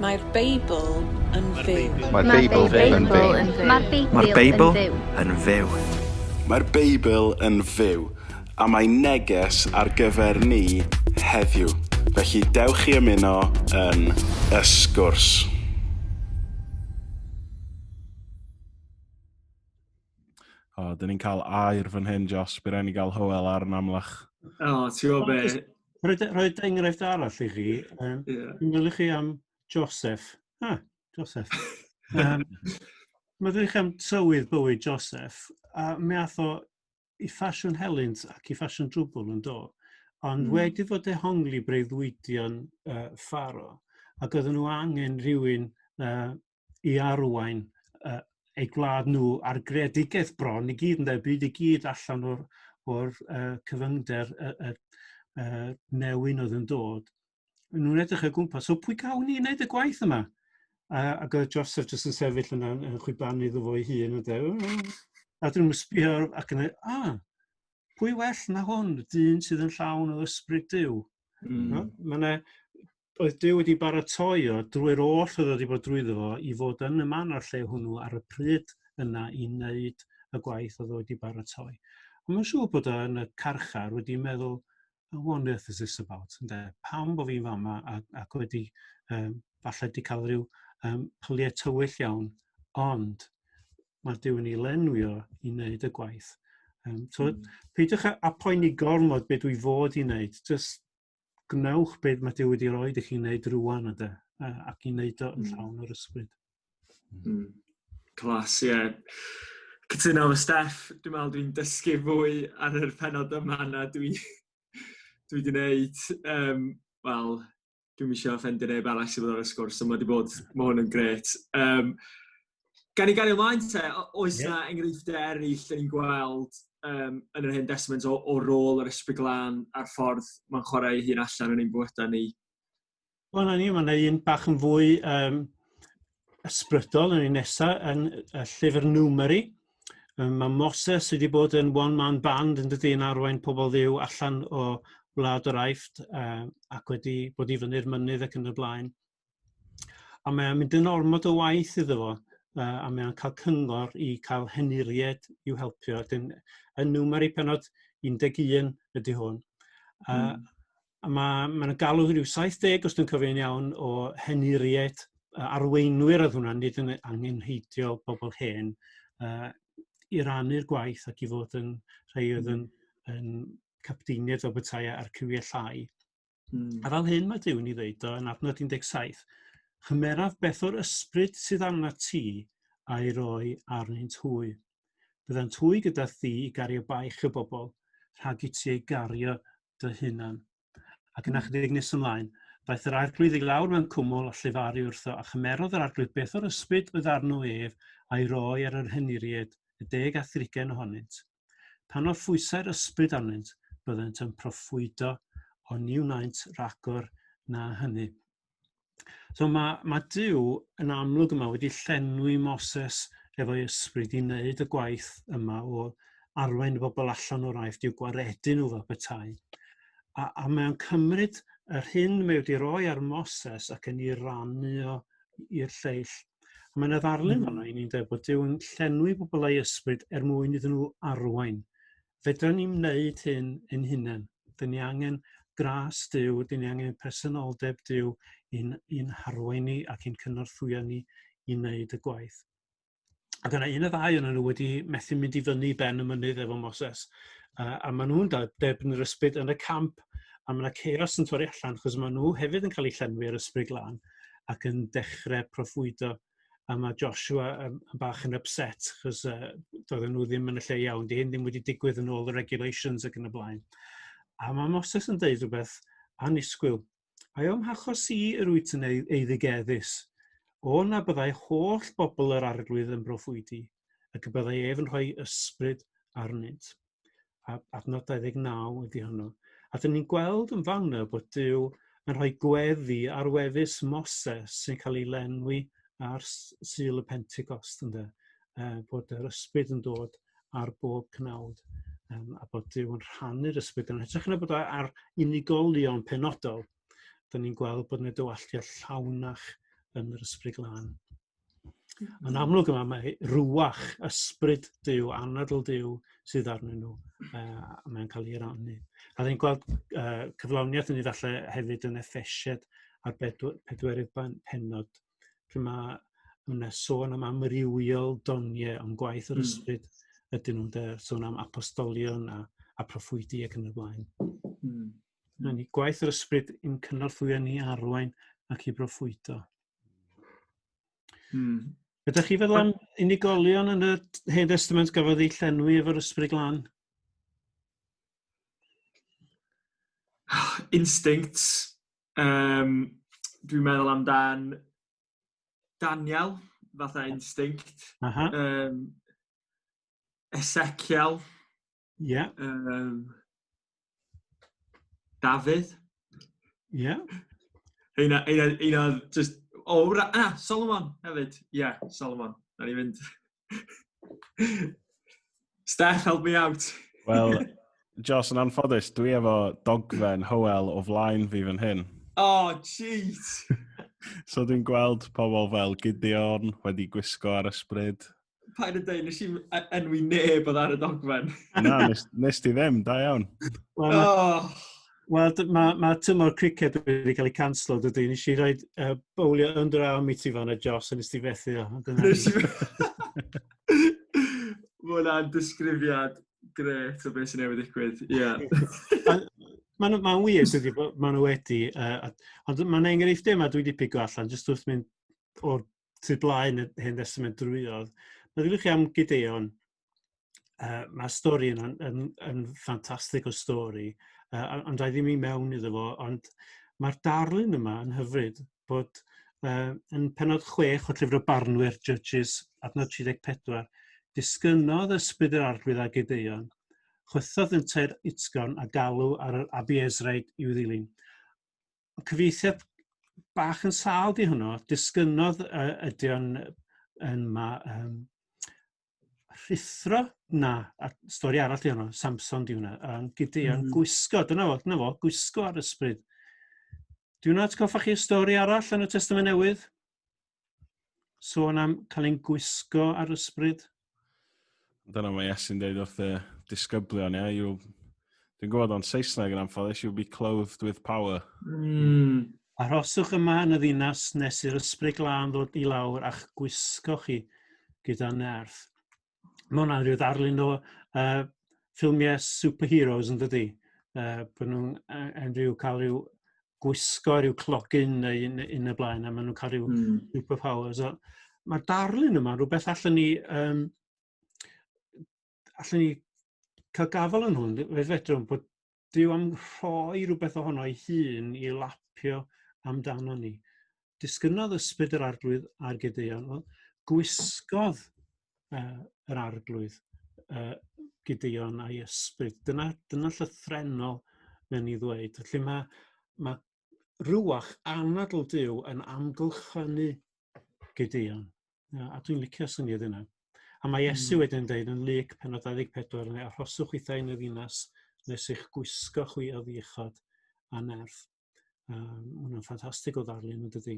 Mae'r Beibl yn fyw. Mae'r Beibl yn fyw. Mae'r Beibl yn fyw. Mae'r Beibl yn fyw, a mae neges ar gyfer ni heddiw. Felly dewch i ymuno yn y sgwrs. O, dyn ni'n cael air fan hyn, Jos. Bydd rhaid ni gael Hywel ar yn amlach. O, ti'n gwybod be? Rhaid e- rhaid enghraifft arall i chi. Um, yeah. Meddwl chi am Joseph. Ah, Joseph. um, meddwl chi am tywydd bywyd Joseph. A mi ath o i ffasiwn helynt ac i ffasiwn drwbl yn do. Ond mm. wedi fod ehongli breuddwydion uh, ffaro. Ac oedden nhw angen rhywun uh, i arwain uh, eu gwlad nhw a'r greadigaeth bron i gyd yn dweud byd i gyd allan o'r, or, uh, cyfyngder y, y, y newyn oedd yn dod. Nhw'n edrych o gwmpas, so pwy gawn ni wneud y gwaith yma? A, ac oedd Joseph jyst yn sefyll yna yn chwibanu iddo fo'i hun. A dyn nhw'n sbio ac yn dweud, ah, pwy well na hwn, dyn sydd yn llawn o ysbryd diw. Mm. No? Mae yna oedd Duw wedi baratoi o drwy'r oll oedd wedi bod drwyddo fo i fod yn y man o'r lle hwnnw ar y pryd yna i wneud y gwaith oedd wedi baratoi. Ond mae'n siŵr bod o yn y carchar wedi meddwl, what on earth is this about? Ynde? Pam bod fi'n fama ac, ac wedi um, falle wedi cael rhyw um, pyliau tywyll iawn, ond mae Duw yn ei lenwio i wneud y gwaith. Um, so, mm. Peidiwch â poeni gormod beth dwi fod i wneud, just gwnewch beth mae Duw wedi rhoi i chi wneud rwan ydy, ac i wneud o yn hmm. llawn o'r ysbryd. Mm. Clas, ie. Yeah. Cytuno efo Steff, dwi'n meddwl dwi'n dysgu fwy ar yr penod yma na dwi, dwi wedi gwneud. Um, Wel, dwi'n eisiau ffendio neb arall sydd wedi bod ar y sgwrs, ond mae wedi bod, mae hwn yn gret. Um, Gan i gario ymlaen te, oes yna yeah. enghreifftiau eraill yn gweld um, yn yr hyn desmant o, o rôl yr ysbryd glân a'r ffordd mae'n chwarae hun allan yn ein bywydau ni? Wel, na ni, mae'n un bach yn fwy um, ysbrydol yn ei nesaf yn y llyfr Numeri. Um, mae Moses wedi bod yn one-man band yn dydy yn arwain pobl ddiw allan o wlad yr aifft uh, ac wedi bod i fyny'r mynydd ac yn y blaen. A mae'n mynd yn ormod o waith iddo fo, uh, a mae'n cael cyngor i cael henuried i'w helpio. Dyn, yn nwmer i penod 11 ydy hwn. Uh, mm. A mae'n ma galw rhyw 70, os dwi'n cofio'n iawn, o henuried arweinwyr oedd hwnna, nid yn angenheidiol bobl hen, uh, i rannu'r gwaith ac i fod yn rhai oedd yn, yn capteiniaid o bethau a'r cywiau llai. Mm. A fel hyn mae Duw yn ei ddeud o yn adnod 17, Chymeraf beth o'r ysbryd sydd arna ti a'i roi arnynt hwy. Byddant hwy gyda thi i gario baich y bobl, rhag i ti ei gario dy hunan. Ac yna hmm. chydig nes ymlaen, daeth yr arglwydd i lawr mewn cwmwl a llifaru wrtho, a chymerodd yr arglwydd beth o'r ysbryd oedd arno ef a'i roi ar yr hyniried, y deg a thrigen ohonynt. Pan oedd phwysau'r ysbryd arnynt, byddent yn proffwydo, ond ni wnaent ragor na hynny. So mae, mae Dyw yn amlwg yma wedi llenwi Moses efo'i ysbryd i wneud y gwaith yma o arwain y bobl allan o'r aifft i'w gwaredu nhw fel petai. A, a mae'n cymryd yr hyn mae wedi roi ar Moses ac yn ei rannu o i'r lleill A mae'n ddarlun mm. fanna i ni'n dweud bod Duw yn llenwi pobl ei ysbryd er mwyn iddyn nhw arwain. Fedrwn ni'n wneud hyn yn hunain. Dyn ni angen gras Duw, dyn ni angen personoldeb Duw i'n, in harwain ni ac i'n cynorthwyo ni i wneud y gwaith. Ac yna un o ddau yna nhw wedi methu mynd i fyny ben y mynydd efo Moses. Uh, a maen nhw'n debyn yr ysbryd yn y camp a mae yna chaos yn torri allan achos maen nhw hefyd yn cael eu llenwi ar ysbryd glân. ac yn dechre proffwydo a ma' Joshua yn yn bach yn ypset achos yy doedden nhw ddim yn y lle iawn, 'di hyn ddim wedi digwydd yn ôl y regulations ac yn y blaen. A ma' Moses yn deud rhywbeth annisgwyl. Ai o'm hachos i yr wyt yn ei- eiddigeddus? O na byddai holl bobl yr arglwydd yn broffwydi, ac y byddai ef yn rhoi ysbryd arnynt. a adnod 29 ydy hwnnw. A dyn ni'n gweld yn fawna bod Dyw yn rhoi gweddi ar wefus Moses sy'n cael ei lenwi ar syl y Pentecost ynde. Uh, bod yr ysbryd yn dod ar bob cnawd um, a bod Dyw yn rhannu'r ysbryd yn hytrach na bod ar unigolion penodol. Dyna ni'n gweld bod yna dywalltiad llawnach yn yr ysbryd glân. Yn amlwg yma mae rwach, ysbryd Dyw, anadl Dyw sydd arnyn nhw. Uh, mae'n cael ei rannu. A ddyn gweld uh, cyflawniaeth yn ei falle hefyd yn effesied ar pedwerydd penod. Pryd mae yna sôn am amrywiol doniau am gwaith yr hmm. ysbryd mm. ydyn nhw'n sôn am apostolion a, a proffwydi ac yn y blaen. Mm. Mae'n ni gwaith yr ysbryd yn cynorthwyo ni arwain ac i broffwydo. Hmm. Ydych chi feddwl am unigolion yn y Hen Testament gafodd ei llenwi efo'r ysbryd glân? Instinct. Um, Dwi'n meddwl amdan Daniel, fatha instinct. Uh -huh. um, Ezekiel. Ie. Yeah. Um, Dafydd. Ie. Yeah. Eina, eina, eina, just... O, oh, ra... Ah, Solomon hefyd. Ie, yeah, Solomon. Na ni fynd. Steph, help me out. Wel, Jos, yn anffodus, dwi efo dogfen Howell o flaen fi fan hyn. Oh, jeez! so dwi'n gweld pobl fel Gideon wedi gwisgo ar ysbryd. Pa'n yn dweud, nes i'n enwi neb oedd ar y dogfen. Na, nes, nes ti ddim, da iawn. Wel, oh. well, mae ma tymor cricket wedi cael ei canslo, dydy. Nes i roi uh, bowlio under arm i ti fan y Joss, a nes ti fethu o. Nes i Mae hwnna'n disgrifiad gret o beth sy'n newid digwydd, ie. Yeah. Mae'n ma wir, dydy, maen nhw wedi, uh, ond mae'n enghreiffd yma dwi wedi pigo allan, jyst wrth mynd o'r sydd blaen y Hen Testament drwyodd. Meddyliwch chi am Gideon, uh, mae'r stori yn, yn, yn ffantastig o stori, uh, ond rhaid i mi mewn iddo fo, ond mae'r darlun yma yn hyfryd bod uh, yn penod 6 o llyfr y barnwyr Judges adnod 34, disgynodd ysbryd yr arglwydd a Gideon, chwythodd yn teir utgon a galw ar yr Abiezraid i'w ddilyn. cyfeithiad bach yn sal di hwnnw, disgynodd uh, ydy o'n yn ma, um, rhithro na, a stori arall di hwnnw, Samson di hwnna, um, gyda mm. -hmm. gwisgo, dyna fo, dyna fo, gwisgo ar ysbryd. Di hwnna, ti'n coffa chi stori arall yn y Testament Newydd? Sôn am cael ein gwisgo ar ysbryd. Dyna mae Iesu'n dweud wrth y disgyblion, ia? You, dwi'n gwybod o'n Saesneg yn anffodus, you'll be clothed with power. Mm. Arhoswch yma yn y ddinas nes i'r ysbryd glân ddod i lawr a'ch gwisgo chi gyda nerth. mae hwnna'n rhyw ddarlun o uh, ffilmiau superheroes yn dydy. Uh, bod nhw'n yn rhyw cael rhyw gwisgo rhyw clogyn neu yn, yn y blaen a maen nhw'n cael rhyw mm. superpowers. So, Mae'r darlun yma rhywbeth allan ni, um, allan ni cael gafel yn hwn. Fe fedrwn bod Dyw am rhoi rhywbeth ohono ei hun i lapio amdano ni. Disgynnodd ysbryd yr arglwydd ar Gideon. Wel, gwisgodd uh, yr arglwydd uh, Gideon a'i ysbryd. Dyna, dyna llythrenol mewn i ddweud. Felly mae, mae rywach anadl Duw yn amgylchynu Gideon. A dwi'n licio syniad yna. A mae Iesu mm. wedyn yn dweud yn lyc pen o 24, neu arhoswch i yn y ddinas nes eich gwisgo chwi o ddiechod a nerth. Um, Mae'n ffantastig o ddarlun yn dydy.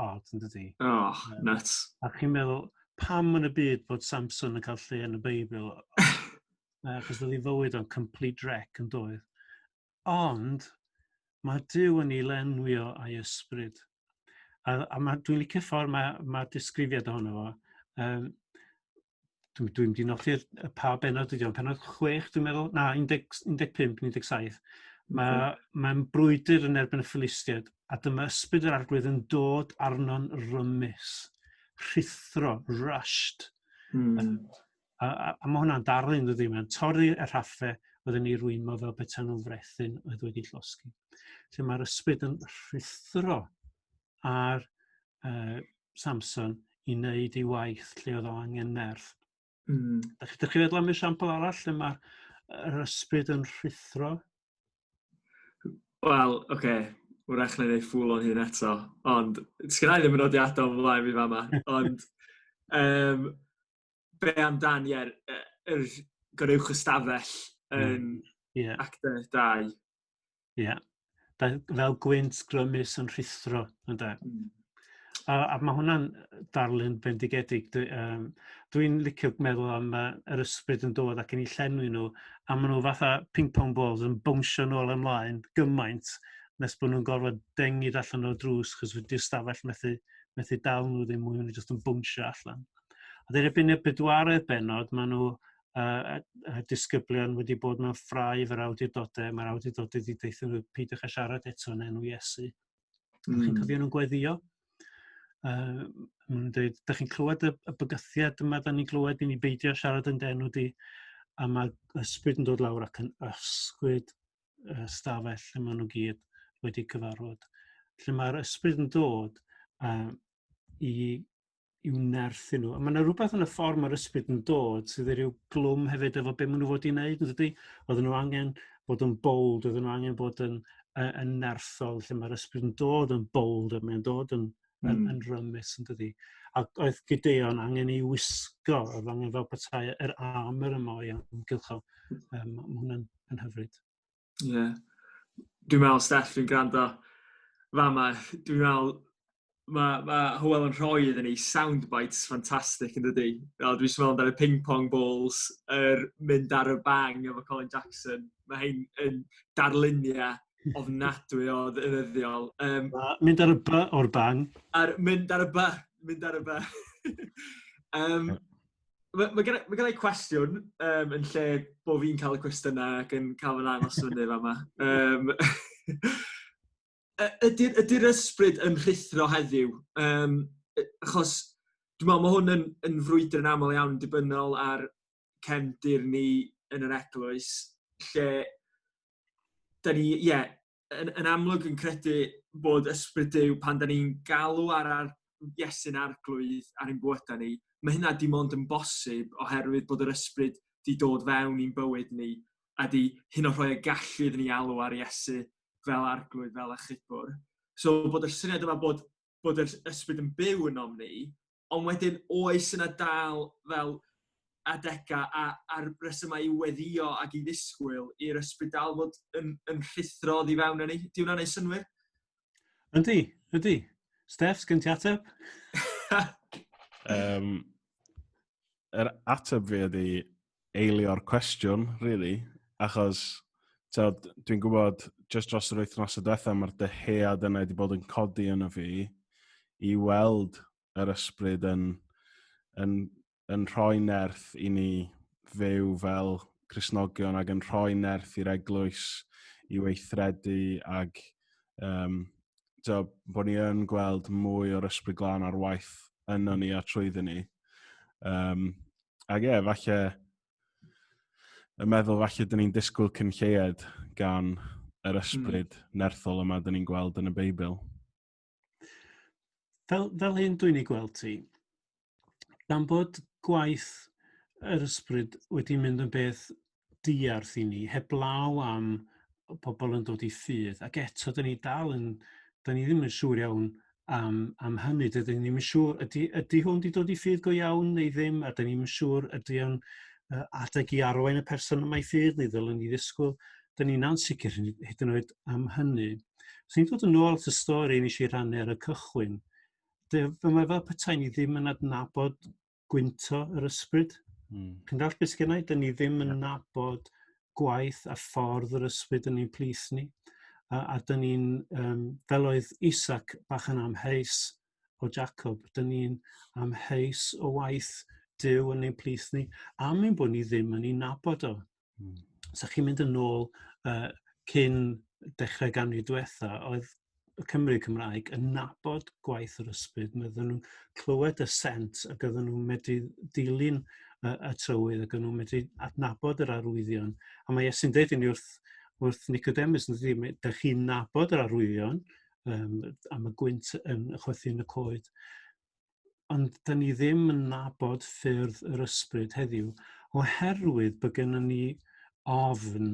od, yn dydy? Oh, nuts. A chi'n meddwl, pam yn y byd bod Samson yn cael lle yn y Beibl? Achos oedd ei fywyd o'n complete wreck yn doedd. Ond, mae Dyw yn ei lenwio a'i ysbryd. A, a mae, dwi'n licio ffordd mae, mae disgrifiad ohono fo. Um, dwi dwi'n mynd i nodi'r y pa benod ydi o'n penod 6 dwi'n meddwl na 10 15 17 ma' mae'n brwydr yn erbyn y Philistiaid a dyma ysbryd yr arglwydd yn dod arno'n rymus rhuthro rushed mm. a, a, a, a mae hwnna'n darlun dydy mae'n torri y rhaffe oedd yn ei rwymo fel beta'n nhw'n frethyn oedd wedi llosgi lle mae'r ysbryd yn rhuthro ar uh, Samson i wneud ei waith lle oedd o angen nerth. Mm. Dych, chi feddwl am esiampl arall lle mae'r ysbryd yn rhuthro? Wel, oce, okay. wrach na ei ffwl o'n hyn eto, ond sgynnau ddim yn nodiadau o'n flaen fi fama, ond um, be amdan, ie, yr gorewch ystafell yn mm. yeah. actor dau. Ie. Yeah. Fel, fel gwynt grymus yn rhithro, ynddo. Mm. A, a mae hwnna'n darlun bendigedig. Dwi'n um, dwi licio meddwl am uh, yr ysbryd yn dod ac yn ei llenwi nhw, a maen nhw fatha ping-pong balls yn bwnsio nôl ymlaen gymaint nes bod nhw'n gorfod dengid allan o'r drws chos wedi'r stafell methu, methu dal nhw ddim mwy, nhw'n jyst yn bwnsio allan. A dyn erbyn y bedwaredd benod, maen nhw a, a disgyblion wedi bod mewn ffrau efo'r awdurdodau, mae'r awdurdodau wedi deithio nhw peidiwch â siarad eto yn enw Iesu. Mm. Chi'n cofio nhw'n gweddio? Uh, nhw'n dweud, da chi'n clywed y, y bygythiad yma, da ni'n clywed i ni beidio siarad yn denw di, a mae ysbryd yn dod lawr ac yn ysgwyd uh, stafell lle maen nhw gyd wedi cyfarfod. Lle mae'r ysbryd yn dod uh, i i'w nerthu nhw. Mae yna rhywbeth yn y ffordd mae'r ysbryd yn dod sydd wedi rhyw glwm hefyd efo beth maen nhw fod i'n neud, yn dydy? Oedden nhw angen bod yn bold, oedden nhw angen bod yn, uh, yn nerthol, lle mae'r ysbryd yn dod yn bold, a mae'n dod yn, mm. yn, hmm. yn rymus, yn dydy? A oedd Gideon angen ei wisgo, oedd angen fel petai yr armor yma o'i amgylcho. Um, mae hwnna'n hyfryd. Ie. Yeah. Dwi'n meddwl, Steph, dwi'n gwrando fama, dwi'n meddwl mae ma Hywel yn rhoi iddyn ni soundbites ffantastig yn dydy. Dwi'n meddwl meddwl amdano ping-pong balls, er mynd ar y bang efo Colin Jackson. Mae hyn yn darluniau ofnadwy o ddefyddiol. Um, mynd ar y by o'r bang. Ar, mynd ar y by, mynd ar y by. um, Mae ma gen, ma gen i cwestiwn um, yn lle bod fi'n cael y cwestiynau ac yn cael fy ddangos fyny fa yma. Um, ydy'r ydy ysbryd yn rhithro heddiw? Um, achos dwi'n meddwl mae hwn yn, yn frwydr yn aml iawn dibynnol ar cefndir ni yn yr eglwys, lle da ni, ie, yeah, yn, yn amlwg yn credu bod ysbryd Dyw pan da ni'n galw ar ar Iesu'n arglwydd ar ein bwyta ni, mae hynna dim ond yn bosib oherwydd bod yr ysbryd di dod fewn i'n bywyd ni a di hyn o rhoi y gallu iddyn ni alw ar Iesu fel arglwydd, fel achubwr. So bod yr syniad yma bod bod yr ysbryd yn byw ynom ni, ond wedyn oes yna dal fel adegau a, a'r resymau i weddio ac i ddisgwyl i'r ysbryd dal fod yn, yn rhuthro oddi fewn yn ni? Di hwnna'n ei synwyr? Ydy, ydy. Steph, sgyn ti ateb? um, yr ateb fi ydy, eilio'r cwestiwn, really, achos dwi'n gwybod just dros yr wythnos y diwethaf mae'r dyhead yna wedi bod yn codi yno fi i weld yr ysbryd yn, yn, yn rhoi nerth i ni fyw fel Cresnogion ac yn rhoi nerth i'r eglwys i weithredu ac um, so, bod ni yn gweld mwy o'r ysbryd glân ar waith yno ni a trwyddo ni. Um, Ac e, falle, y meddwl falle dyn ni'n disgwyl cyn lleied gan yr hmm. ysbryd mm. nerthol yma dyn ni'n gweld yn y Beibl. Fel, fel hyn dwi'n ei gweld ti, gan bod gwaith yr ysbryd wedi mynd yn beth diarth i ni, heblaw am pobl yn dod i ffydd, ac eto dyn ni dal yn, dyn ni ddim yn siŵr iawn am, am hynny, dydyn ni ddim yn siŵr, ydy, ydy hwn wedi dod i ffydd go iawn neu ddim, a dyn ni ddim yn siŵr ydy o'n uh, adeg i arwain y person yma i ffydd neu ddylwn ni ddisgwyl, dyn ni'n ansicr hyd yn oed am hynny. Os ni'n dod yn ôl at y stori nes i rannu ar y cychwyn, dyma fel petai ni ddim yn adnabod gwynto yr ysbryd. Mm. Chi'n dall beth sgynna i? Dyn ni ddim yn yeah. nabod gwaith a ffordd yr ysbryd yn ein plith ni. A, a dyn ni'n, um, fel oedd Isaac bach yn amheus o Jacob, dyn ni'n amheus o waith Dyw yn ein plith ni, am ein bod ni ddim yn ei nabod o. Mm. So chi'n mynd yn ôl uh, cyn dechrau ganrif diwetha, oedd y Cymru Cymraeg yn nabod gwaith yr ysbryd, mae ddyn nhw'n clywed y sent ac oedden nhw'n medru dilyn y, y trywydd ac oedden nhw'n medru adnabod yr arwyddion. A mae Iesu'n dweud i ni wrth, wrth Nicodemus, yn dweud, da chi'n nabod yr arwyddion um, am y gwynt yn chwythu yn y coed. ond da ni ddim yn nabod ffyrdd yr ysbryd heddiw oherwydd bod gennym ni ofn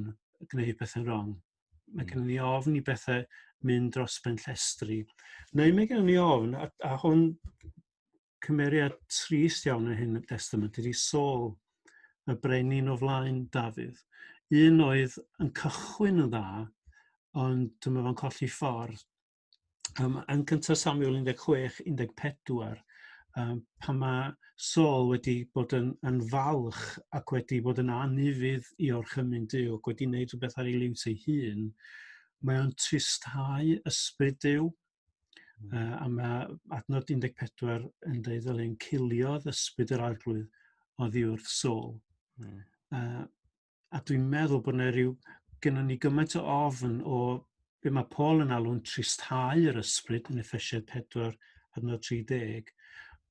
gwneud pethau'n wrong. Mae hmm. gennym ni ofn i bethau mynd dros ben llestri. Neu mae gennym ni ofn, a, a hwn cymeriad trist iawn yn hyn y testament, ydy Saul, y brenin o flaen Dafydd. Un oedd yn cychwyn yn dda, ond dyma fo'n colli ffordd. um, yn cyntaf Samuel 16, 14, um, pan mae Saul wedi bod yn, yn falch ac wedi bod yn anufudd i o'r chymyn Dyw ac wedi gwneud rhywbeth ar ei liwt ei hun, mae o'n tristau ysbryd Dyw, uh, hmm. a mae adnod 14 yn dweud fel ein ciliodd ysbryd yr arglwydd o ddiwrth Saul. Mm. Uh, a dwi'n meddwl bod yna rhyw... gennym ni gymaint o ofn o be mae Paul yn alw'n tristhau yr ysbryd yn effesiaid 4 adnod 30,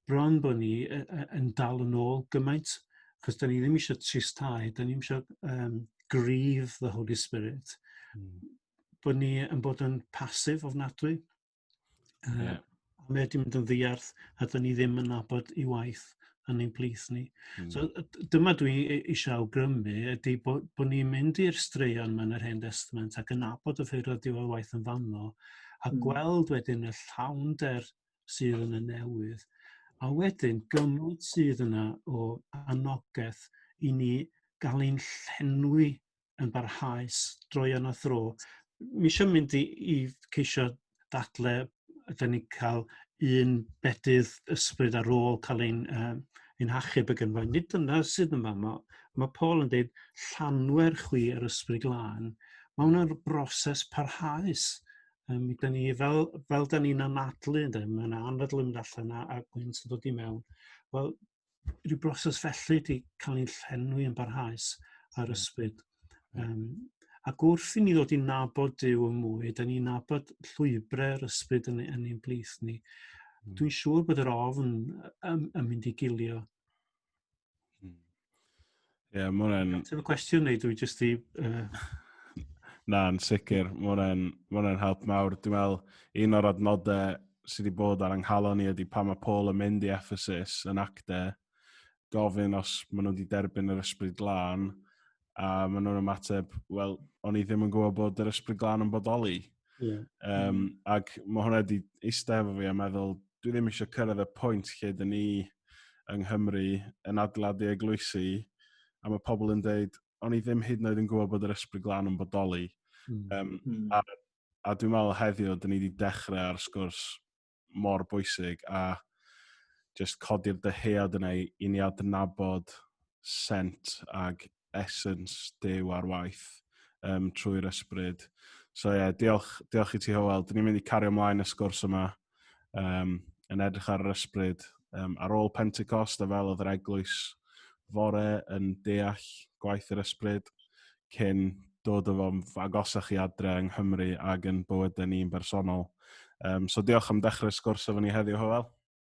bron bod ni yn dal yn ôl gymaint, achos da ni ddim eisiau tristhau, da ni ddim eisiau um, grieve the Holy Spirit, mm. bod ni yn bod yn pasif ofnadwy. Uh, yeah. A mae wedi mynd yn ddiarth a dyn ni ddim yn nabod i waith yn ein plith ni. Mm. So dyma dwi e, eisiau awgrymu ydy bod, bod ni'n mynd i'r straeon mewn yr Hen Testament ac yn abod y ffeir oedd diwedd waith yn fanno a mm. gweld wedyn y llawn der sydd yn y newydd a wedyn gymryd sydd yna o anogaeth i ni gael ein llenwi yn barhaus droion a thro. Mi eisiau mynd i, i ceisio dadle, ydyn ni cael un bedydd ysbryd ar ôl cael ein, uh, ein hachub y gynfa. Nid dyna sydd yma. Mae, mae Paul yn dweud, llanwer chwi yr ysbryd glân. Mae hwnna'n broses parhaus. Um, da ni, fel, fel da ni'n anadlu, mae yna anadlu mynd allan a, a gwynt yn dod i mewn. Wel, rhyw broses felly wedi cael ei llenwi yn barhaus ar hmm. ysbryd. Um, ac wrth i ni ddod i nabod Dyw yn mwy, da ni'n nabod llwybrau'r ysbryd yn, yn ein blith ni. Mm. Dwi'n siŵr bod yr ofn yn, yn mynd i gilio. Hmm. Ie, yeah, mae hwnna'n... Ateb y cwestiwn neu dwi jyst i... Uh... Na, yn sicr. Mae hwnna'n help mawr. Dwi'n meddwl, un o'r adnodau sydd wedi bod ar anghalon ni ydy pan mae Paul yn mynd i Ephesus yn acte, gofyn os maen nhw wedi derbyn yr ysbryd glân, a maen nhw'n ymateb, wel, o'n i ddim yn gwybod bod yr ysbryd glân yn bodoli. Yeah. Um, mm. Ac mae hwnna wedi eistedd efo fi a meddwl, dwi ddim eisiau cyrraedd y pwynt lle dyn ni yng Nghymru yn adeiladu eglwysi a mae pobl yn dweud, o'n i ddim hyd yn oed yn gwybod bod yr ysbryd glan yn bodoli. Mm. Um, mm. A, a dwi'n meddwl heddiw, dyn ni wedi dechrau ar sgwrs mor bwysig a just codi'r dyhead yna i, i ni adnabod sent ag essence dew ar waith um, trwy'r ysbryd. So ie, yeah, diolch, diolch i ti Howell. Dyn ni'n mynd i cario ymlaen y sgwrs yma um, yn edrych ar yr ysbryd um, ar ôl Pentecost a fel oedd yr eglwys fore yn deall gwaith yr ysbryd cyn dod o fo'n agosach chi adre yng Nghymru ac yn bywydau ni'n bersonol. Um, so diolch am dechrau sgwrs efo ni heddiw, Hywel.